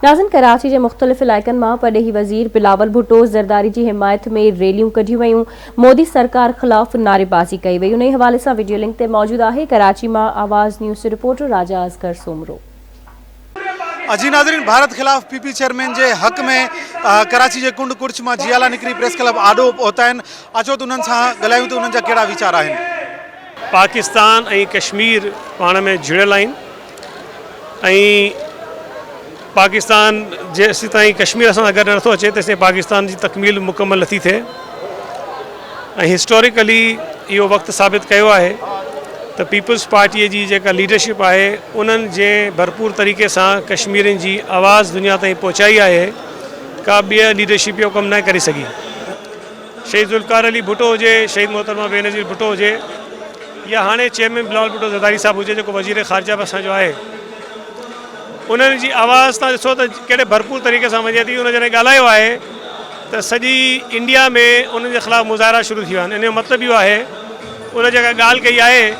ناظرين ڪراچي جي مختلف علائقن مان پرڏيهي وزير بلاول ڀٽو زرداري جي حمايت ۾ ريليون ڪڍيون ويون مودي سرڪار خلاف نعري بازي ڪئي وئي انهي حوالي سان وڊيو لنڪ تي موجود آهي ڪراچي مان آواز نيوز جي رپورٽر راجا اصغر سومرو. جي ناظرين ڀارت خلاف پي پي چيئرمين جي حق ۾ ڪراچي جي ڪنڊ ڪڙڇ مان جيالا نڪري پريس ڪلب آڏو پهتا آهن اچو ته انهن سان ڳالهايون ته انهن جا ڪهڙا ويچار آهن. پاڪستان ۽ ڪشمير پاڻ ۾ جڙيل آهن ۽ پاڪستان جيستائين ڪشمير سان گڏ نٿو اچي تيستائين پاڪستان جي تڪميل مڪمل نٿي ٿئي ۽ هسٽوريڪلي اهو وقت ثابت ڪيو آهي ته پيپلز پارٽيء جي جيڪا ليڊرشپ آهي انهن جنهن ڀرپور طريقي سان ڪشميرين جي آواز دنيا تائين پهچائي آهي ڪا ٻيء ليڊرشپ اهو ڪم نه ڪري سگهي شهيد ذوالفقار علي ڀٽو هجي، شهيد محترمه بينظير ڀٽو هجي يا هاڻي چيئرمين بلاول ڀٽو زرداري صاحب هجي جيڪو وزير خارجه به اسان جو آهي انهن جي آواز تان ڏسو ته ڪهڙي ڀرپور طريقي سان وڃي ٿي ان جڏهن ڳالهايو آهي ته سڄي انڊيا ۾ انهن جي خلاف مظاهرا شروع ٿي ويا آهن ان جو مطلب اهو آهي ان جيڪا ڳالهه ڪئي آهي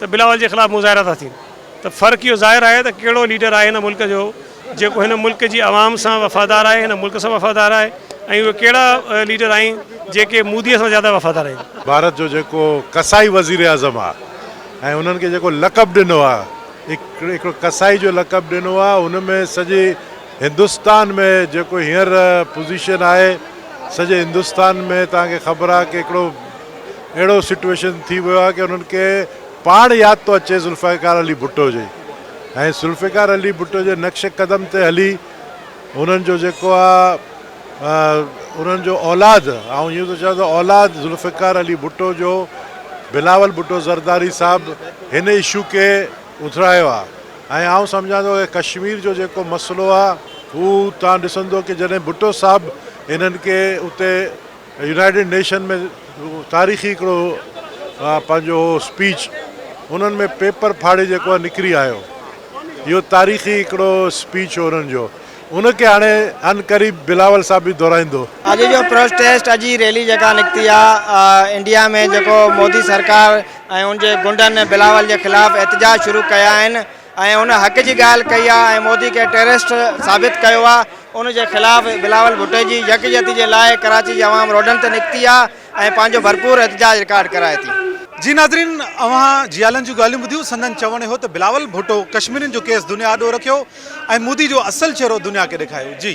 ته بلاول جي خلاف مظاهرا ٿا ٿين ته فرق اهو ظاهر آهي ته ڪهڙو ليڊر آهي هن ملڪ جو جيڪو هن ملڪ جي عوام سان وفادار آهي هن ملڪ سان وفادار آهي ۽ اهي ڪهڙا ليڊر آهن جيڪي مودي سان زياده وفادار آهن. ڀارت جو جيڪو قصائي وزيراعظم آهي ۽ انهن کي جيڪو لقب ڏنو آهي هڪڙو قصائي جو لقب ڏنو آهي ان ۾ سڄي هندستان ۾ جيڪو هينئر پوزيشن آهي سڄي هندستان ۾ توهان کي خبر آهي ڪي هڪڙو اهڙو سٽويشن ٿي ويو آهي ڪي انهن کي پاڻ ياد ٿو اچي ذوالفقار علي ڀٽو جي ۽ ذوالفقار علي ڀٽو جي نقش قدم تي هلي انهن جو جيڪو آ انهن جو اولاد آئون اهو ٿو چوان ته اولاد ذوالفقار علي ڀٽو جو بلاول ڀٽو زرداري صاحب هن اشو کي اٿرايو آ ۽ آئون سمجهان ٿو ڪي ڪشمير جو جيڪو مسئلو آ هو توهان ڏسندو ڪي جڏهن ڀٽو صاحب انهن کي اتي يونائيٽيڊ نيشن ۾ تاريخي هڪڙو پنهنجو هو اسپيچ انهن ۾ پيپر ڦاڙي جيڪو نڪري آيو اهو تاريخي هڪڙو اسپيچ هو انهن جو ان کي هاڻي عن قريب بلاول صاحب به دهرائيندو. اڄ جو پروسٽيسٽ اڄ جي ريلي جيڪا نڪتي آ انڊيا ۾ جيڪو مودي سرڪار ۽ ان جي غنڊن بلاول جي خلاف احتجاج شروع ڪيا آهن ۽ ان حق جي ڳالهه ڪئي آهي ۽ مودي کي ٽيررسٽ ثابت ڪيو آهي ان جي خلاف بلاول ڀٽي جي يڪجهتي جي لاء ڪراچي جي عوام روڊن تي نڪتي آهي ۽ پنهنجو ڀرپور احتجاج رڪارڊ ڪرائي ٿي. جي ناظرين اوهان جيالن جون ڳالهيون ٻڌيون سندن چوڻ اهو ته بلاول ڀٽو ڪشميرين جو ڪيس دنيا آڏو رکيو ۽ مودي جو اصل چهرو دنيا کي ڏيکايو جي.